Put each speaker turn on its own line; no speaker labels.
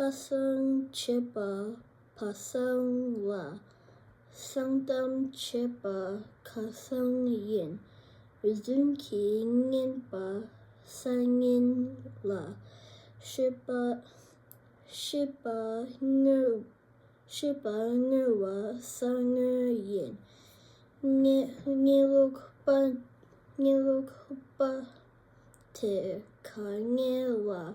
ལྷ་བསང་བྱེད་པ་བ་བསང་ལ་བསང་གཏམ་བྱེད་པ་ཁ་བསང་ཡིན། རི་བདུན་གྱི་བསྙེན་པ་ས་བསྙེན་ལ་ཤེས་པ་ཤེས་པ་དངོས་ཤེས་པ་དངོས་བ་ས་དངོས་ཡིན། བསྙེན་ལུགས་པ་བསྙེན་ལུགས་པ་དེ་ག་བསྙེན་ལ།